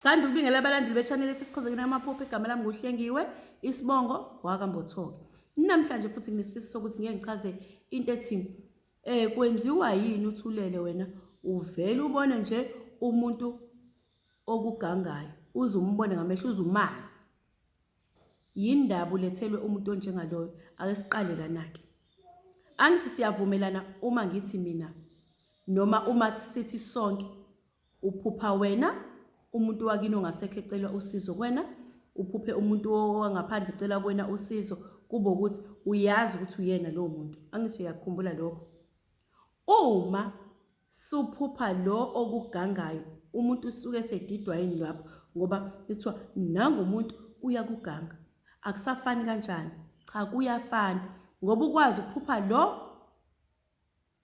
Sanda ukubingela abalandeli be-channel ethi Sichaze Kini Amaphupho. Igama lami nguHlengiwe, isibongo wakambothoke. Namhlanje futhi nginesifiso sokuthi ngeke ngichaze into ethi eh kwenziwa yini uthulele wena uvele ubone nje umuntu okugangayo uze umbone ngamehlo uze umazi yini ndaba ulethelwe umuntu onjengaloyo ake siqale lana-ke angithi siyavumelana uma ngithi mina noma uma sithi sonke Uphupha wena umuntu wakini ongasekho ecela usizo kwena uphuphe umuntu wangaphandle ecela kwena usizo kube ukuthi uyazi ukuthi uyena lowo muntu angithi uyakukhumbula lokho uma suphupha lo okugangayo umuntu usuke esedidwa yini lapho ngoba kuthiwa nangu umuntu uyakuganga akusafani kanjani cha kuyafana ngoba ukwazi ukuphupha lo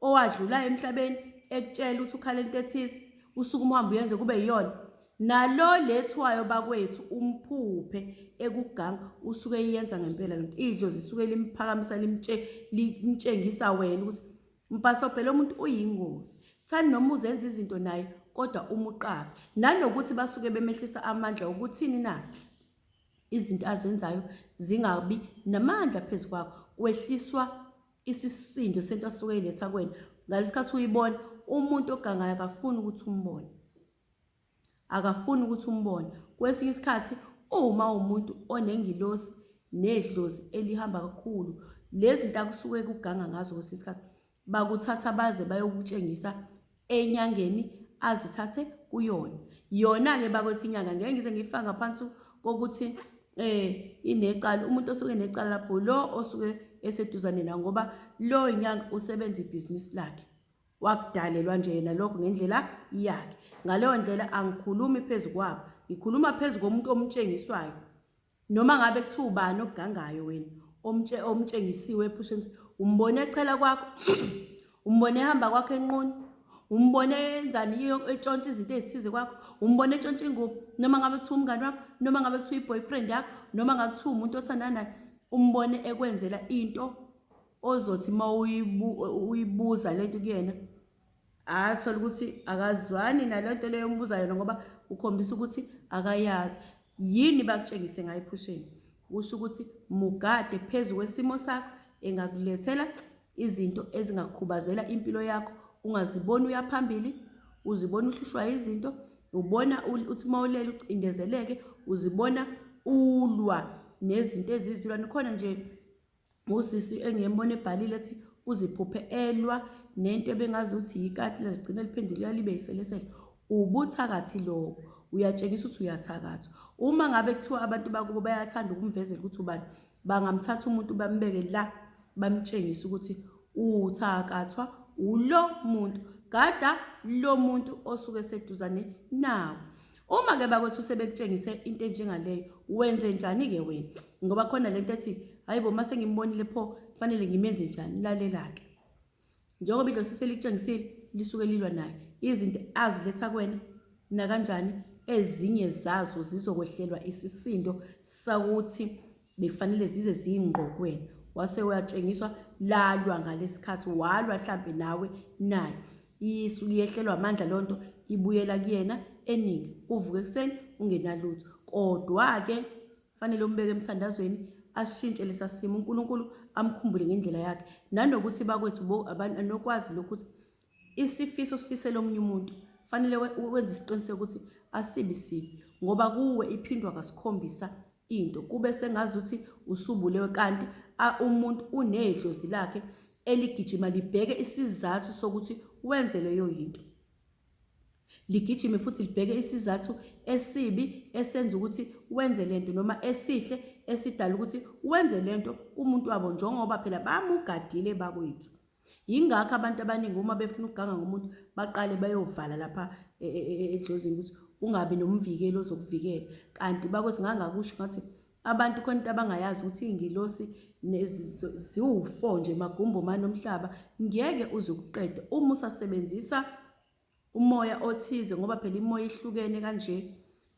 owadlula emhlabeni ekutshela ukuthi ukhala into ethize usuku umhambe uyenze kube yiyona nalo lethwayo bakwethu umphuphe ekuganga usuke eyenza ngempela lento idlozi isuke limphakamisa limtshe limtshengisa wena ukuthi mpasobhela umuntu uyingozi thani noma uzenza izinto naye kodwa umuqaphe nanokuthi basuke bemehlisa amandla okuthini na izinto azenzayo zingabi namandla phezu kwakho kwehliswa isisindo sento asuke eyiletha kwena ngalesikhathi uyibona umuntu ogangayo akafuni ukuthi umbone akafuni ukuthi umbone kwesinye isikhathi uma umuntu onengilosi nedlozi elihamba kakhulu lezi nto akusuke kuganga ngazo kwesinye isikhathi bakuthatha baze bayokutshengisa enyangeni azithathe kuyona yona-ke bakwethu inyanga ngeke ngize ngiyifaka ngaphansi kokuthi um inecala umuntu osuke necala lapho lo osuke eseduzane nawo ngoba lo inyanga usebenza ibhizinisi lakhe wakudalelwa nje yena lokho ngendlela yakhe ngaleyo ndlela angikhulumi phezu kwabo ngikhuluma phezu komuntu omtshengiswayo Noma ngabe kuthiwa ubani okugangayo wena omtshe omtshengisiwe ephusheni umbone echela kwakho umbone ehamba kwakho enquni umbone enzani iyo etshontsha izinto ezithize kwakho umbone etshontsha ingubo noma ngabe kuthiwa umngane wakho noma ngabe kuthiwa i-boyfriend yakho noma ngabe kuthiwa umuntu othandana naye umbone ekwenzela into ozothi uma uyibuza le nto kuyena athola ukuthi akazwani naleyo nto leyo ombuza yona ngoba ukhombisa ukuthi akayazi yini bakutshengise ngayo ephusheni kusho ukuthi mugade phezu kwesimo sakho engakulethela izinto ezingakhubazela impilo yakho ungaziboni uyaphambili uzibona uhlushwa izinto ubona uthi uma ulele ucindezeleke uzibona ulwa nezinto ezizilwa nikhona nje ngosisi engiyembona ebhalile ethi uziphuphe elwa nento ebengazi ukuthi yikati lezigcina liphendule yalibe yiselesele ubuthakathi lobo uyatshengisa ukuthi uyathakatha uma ngabe kuthiwa abantu bakubo bayathanda ukumvezela ukuthi ubani bangamthatha umuntu bambeke la bamtshengise ukuthi uthakathwa ulo muntu gada lo muntu osuke seduzane nawo Uma ke bakwethu sebekutshengise into enjengaleyo wenze njani ke wena ngoba khona lento ethi hayibo mase ngimbonile pho kufanele ngimenze njani lalela ke njengoba idlosi selikutshengisile lisuke lilwa naye izinto aziletha kwena nakanjani ezinye zazo zizokwehlelwa isisindo sakuthi bekufanele zize ziyingqokwena wase uyatshengiswa lalwa ngalesikhathi walwa mhlambe nawe naye isu liyehlelwa amandla lonto ibuyela kuyena eningi uvuke kuseni ungenalutho kodwa ke fanele umbeke emthandazweni ashintshe lesasimo uNkulunkulu amkhumbule ngendlela yakhe nanokuthi bakwethu bo abantu anokwazi lokuthi Isifiso osifisela omunye umuntu fanele wenze isiqiniseko ukuthi asibi sibi ngoba kuwe iphindwa kasikhombisa into kube sengazuthi usubulewe kanti umuntu unedlozi lakhe eligijima libheke isizathu sokuthi wenze leyo yinto ligijime futhi libheke isizathu esibi esenza ukuthi wenze lento noma esihle esidala ukuthi wenze lento kumuntu wabo njengoba phela bamugadile bakwethu Yingakho abantu abaningi uma befuna ukuganga ngomuntu baqale bayovala lapha e, e, e, edlozini ukuthi ungabi nomvikeli ozokuvikela kanti bakuthi ngangakusho ngathi abantu khona into abangayazi ukuthi iy'ngilosi ziwu-four nje magumbo manomhlaba ngeke uze ukuqede uma usasebenzisa umoya othize ngoba phela imoya ihlukene kanje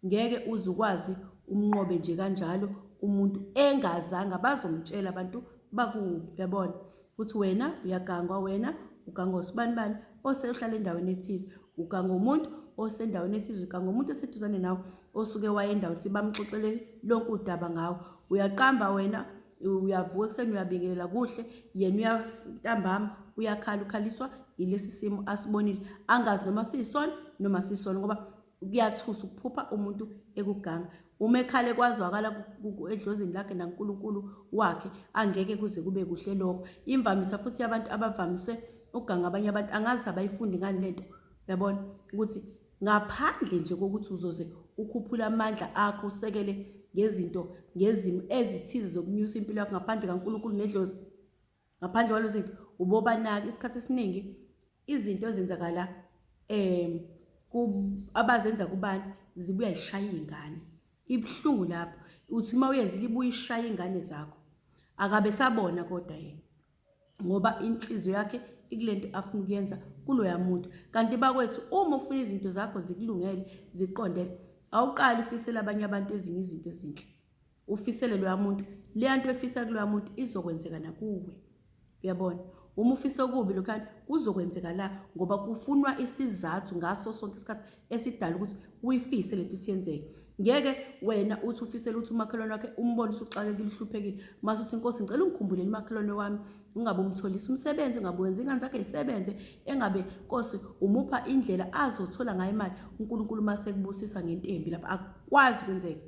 ngeke uze ukwazi umnqobe nje kanjalo umuntu engazanga bazomtshela abantu bakuphi uyabona ukuthi wena uyagangwa wena ugangwa usibani bani oseyohlala endaweni ethize ugangwa umuntu osendaweni ethize ugangwa umuntu oseduzane nawe osuke waye endawo ukuthi bamxoxele lonke udaba ngawo uyaqamba wena uyavuka ekuseni uyabingelela kuhle yena uyantambama uyakhala ukhaliswa yilesi simo asibonile angazi noma siyisona noma siyisona ngoba kuyathusa ukuphupha umuntu ekuganga uma ekhale kwazwakala edlozini lakhe nankulunkulu wakhe angeke kuze kube kuhle lokho imvamisa futhi abantu abavamise ukuganga abanye abantu angazi abayifundi ngani lento yabona ukuthi Ngaphandle nje kokuthi uzoze ukhuphule amandla akho usekele ngezinto ngezimo ezithize zokunyusa impilo yakho ngaphandle kaNkulunkulu nedlozi ngaphandle kwalezo zinto ubobanaki isikhathi esiningi izinto ezenzakala um abazenza kubantu zibuya yishaya iy'ngane ibuhlungu lapho uthi uma uyenzile ibuye ishaya iy'ngane zakho akabe sabona kodwa yena ngoba inhliziyo yakhe ikule nto afuna ukuyenza kuloya muntu kanti bakwethu uma ufuna izinto zakho zikulungele ziqondele awuqali ufisele abanye abantu ezinye izinto ezinhle ufisele loya muntu leya nto efisa kuloya muntu izokwenzeka nakuwe uyabona uma ufisa okubi lokhana kuzokwenzeka la ngoba kufunwa isizathu ngaso sonke isikhathi esidala ukuthi uyifise lento siyenzeke ngeke wena uthi ufisela ukuthi umakhelwane wakhe umbone usuxakekile uhluphekile mase uthi inkosi ngicela ungikhumbulele umakhelwane wami ungabe umtholisa umsebenzi ungabe wenza ingane zakhe isebenze engabe nkosi umupha indlela azothola ngayo imali unkulunkulu uma sekubusisa ngentembi lapho akwazi ukwenzeka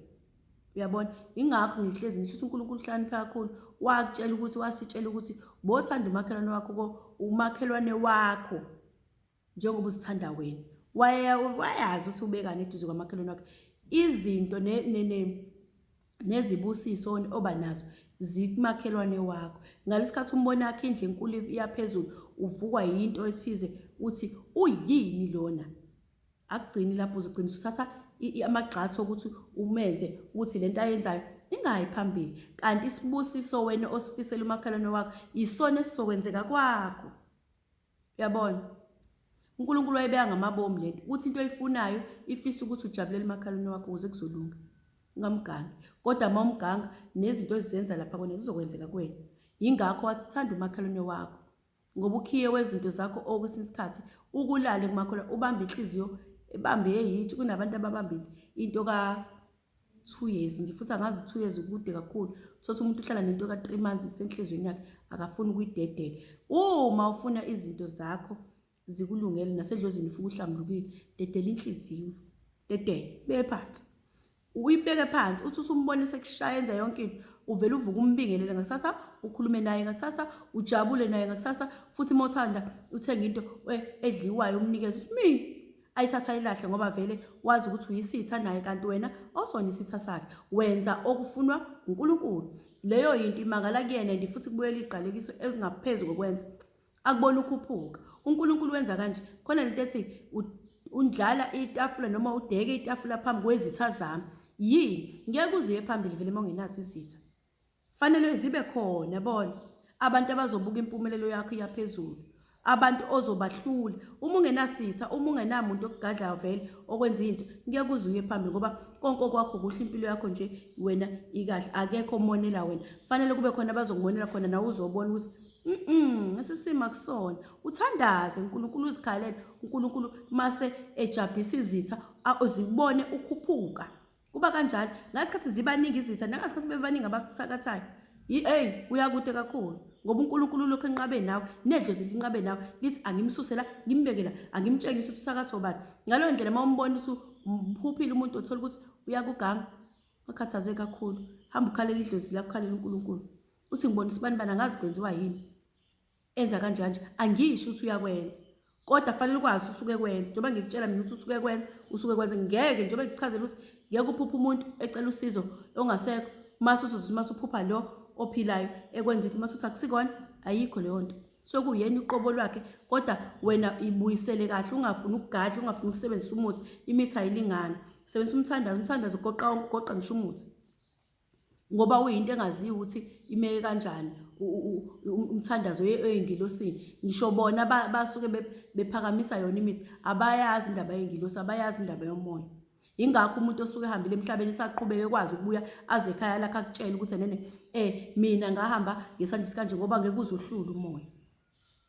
uyabona ingakho ngihlezi ngisho ukuthi unkulunkulu uhlakaniphe kakhulu wakutshela ukuthi wasitshela ukuthi bothanda umakhelwane wakho umakhelwane wakho njengoba uzithanda wena wayazi ukuthi ubekani eduze kwamakhelwane wakhe izinto nezibusiso oba nazo zikumakhelwane wakho ngalesikhathi umbona yakhe indle enkulu iyaphezulu uvukwa yinto ethize uthi uyini lona akugcini lapho uzogcina usuthatha amagxathu okuthi umenze ukuthi lento ayenzayo ingayi phambili kanti isibusiso wena osifisela umakhelwane wakho isona esizokwenzeka kwakho Uyabona? UNkulunkulu wayebeka ngamabomu le nto ukuthi into oyifunayo ifisa ukuthi ujabulele umakhalwane wakho ukuze kuzolunga. Ungamgangi. Kodwa uma umganga nezinto ezizenza lapha kwena zizokwenzeka kuwena. Yingakho wathi thanda umakhalwane wakho ngoba ukhiye wezinto zakho okwesinye isikhathi ukulale kumakhola ubambe inhliziyo ebambe eyithi kunabantu ababambile into ka two years nje futhi angazi two years ukude kakhulu thothi umuntu uhlala nento ka-three months isenhlizweni yakhe akafuni ukuyidedela uma ufuna izinto zakho zikulungele nasedlozini ufuke uhlambulukile dedela inhliziyo dedele beye phansi uyibeke phansi uthi usumbona sekushaya enza yonke into uvele uvuke umbingelele ngakusasa ukhulume naye ngakusasa ujabule naye ngakusasa futhi uma uthanda uthenga into eh, edliwayo umnikeze uthi mi ayithatha ayilahle ngoba vele wazi ukuthi uyisitha naye kanti wena osona isitha sakhe wenza okufunwa uNkulunkulu leyo yinto imangala kuyena and futhi kubuyela igqalekiso ezingaphezu kokwenza akubona ukhuphuka uNkulunkulu wenza kanje khona lento ethi undlala itafula noma udeke itafula phambi kwezitha zami yini ngeke uzuye phambili vele uma ungenazo izitha Fanele zibe khona yabona abantu abazobuka impumelelo yakho iyaphezulu abantu ozobahlula uma ungenasitha uma ungenamuntu okugadlayo vele okwenza into ngeke kuze uye phambili ngoba konke okwakho kuhle impilo yakho nje wena ikahle akekho omonela wena fanele kube khona abazokumonela khona nawe uzobona ukuthi mm esisima kusona uthandaze uNkulunkulu uzikhalele uNkulunkulu mase ejabhisa izitha uzibone ukhuphuka kuba kanjalo ngasikhathi zibaningi izitha nangasikhathi bebaningi abakuthakathayo eyi uyakude kakhulu ngoba unkulunkulu lokhu enqabe nawe nedlozi linqabe nawe lithi angimsusela ngimbekela angimtshengisa ukuthi usakatha obani ngaleyo ndlela uma umbona ukuthi umphuphile umuntu othola ukuthi uyakuganga wakhathaze kakhulu hamba ukhalela idlozi lakho ukhalela unkulunkulu uthi ngibona isibani bani angazi kwenziwa yini enza kanjanje angisho ukuthi uyakwenza kodwa fanele ukwazi usuke kwenza njengoba ngikutshela mina ukuthi usuke kwenza usuke kwenza ngeke njengoba ngikuchazela ukuthi ngeke uphuphe umuntu ecela usizo ongasekho mase uzothi mase uphupha lo ophilayo ekwenza into mase uthi akusikona ayikho leyo nto sokuyena uqobo lwakhe kodwa wena ibuyisele kahle ungafuni ukugadla ungafuni ukusebenzisa umuthi imithi ayilingani sebenzisa umthandazo umthandazo ugoqa ugoqa ngisho umuthi ngoba uyinto engaziyo ukuthi imeke kanjani umthandazo oyengilosini ngisho bona basuke bephakamisa yona imithi abayazi indaba yengilosi abayazi indaba yomoya ingakho umuntu osuke ehambile emhlabeni esaqhubeke ekwazi ukubuya aze ekhaya lakhe akutshele ukuthi nene eh mina ngahamba ngesandla sikanje ngoba ngeke uzohlula umoya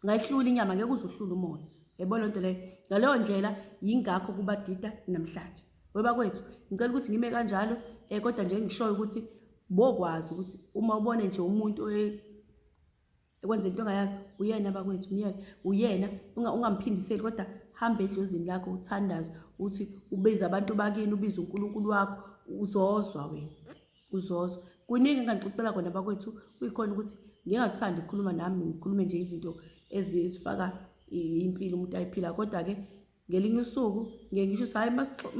ngayihlula inyama ngeke uze uhlule umoya yebo lento leyo ngaleyo ndlela yingakho kubadida namhlanje webakwethu ngicela ukuthi ngime kanjalo eh kodwa nje ngishoyo ukuthi bokwazi ukuthi uma ubone nje umuntu ekwenza into ongayazi uyena bakwethu myeke uyena ungamphindiseli kodwa hamba edlozini lakho uthandaze uthi ubiza abantu bakini ubiza uNkulunkulu wakho uzozwa wena uzozo kuningi enganixoxela kona bakwethu kuyikhona ukuthi ngingakuthandi ukukhuluma nami ngikhulume nje izinto ezifaka impilo umuntu ayiphila kodwa-ke ngelinye usuku ngeke ngisho ukuthi hhayi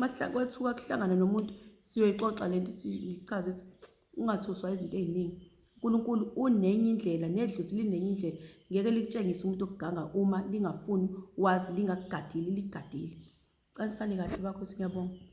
makwethuka kuhlangana nomuntu siyoyixoxa le nto sichaze ukuthi ungathuswa izinto ey'ningi unkulunkulu unenye indlela nedluzi linenye indlela ngeke likutshengise umuntu okuganga uma lingafuni wazi lingakugadile ligadile canisani kahle bakho ukuthi ngiyabonga